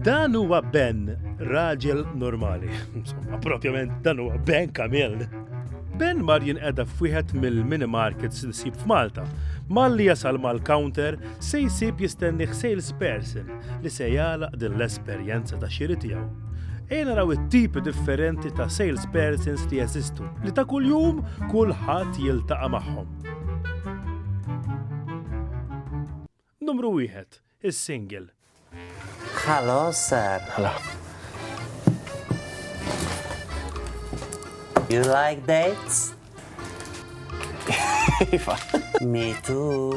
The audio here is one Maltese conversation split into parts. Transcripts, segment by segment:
Dan huwa Ben, raġel normali. Insomma, propjament dan huwa Ben Kamil. Ben mar jinqeda f'wieħed mill-mini markets li sib f'Malta. Malli jasal mal-counter se jsib jistenni salesperson li se jagħlaq din l-esperjenza ta' xiri tiegħu. Ejja naraw it-tipi differenti ta' salespersons li jeżistu li ta' kuljum kulħadd jiltaqa' magħhom. Numru wieħed, is-single. Hello, sir. Hello. You like dates? Iva. Me too.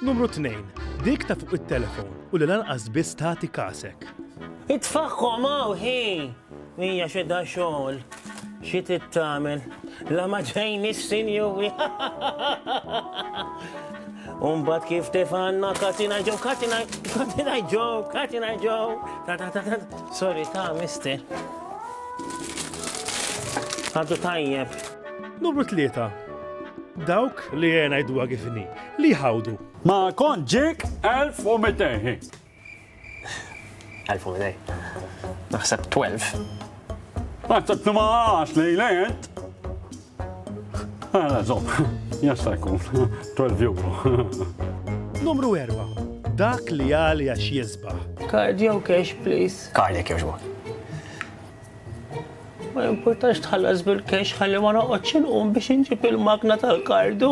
Numru 2. Dik ta' fuq it-telefon u li lanqas biss tagħti kasek. Itfaħħom hawn ħin! Hija xi da xogħol, xi trid tagħmel, la ma ġejni s-sinjuri. Umbat kif tefanna katina ġew, katina katina ġew, katina ġew. Ta ta ta ta. Sorry ta' mister. Għadu tajjeb. Numru tlieta. Dawk li jena jdwa kifni, li ħawdu. Ma kont ġik 1200. Elfu minaj. Naħseb 12. Naħseb 12 lejlet. Għala, zom, jasta jkun, 12 euro. Numru 4. Dak li għal jax jizba. Card jew cash, please. Card jek joġbu. Ma jimportax tħallas bil-cash ħalli ma noqgħodx inqum biex inġib il-magna tal-kardu.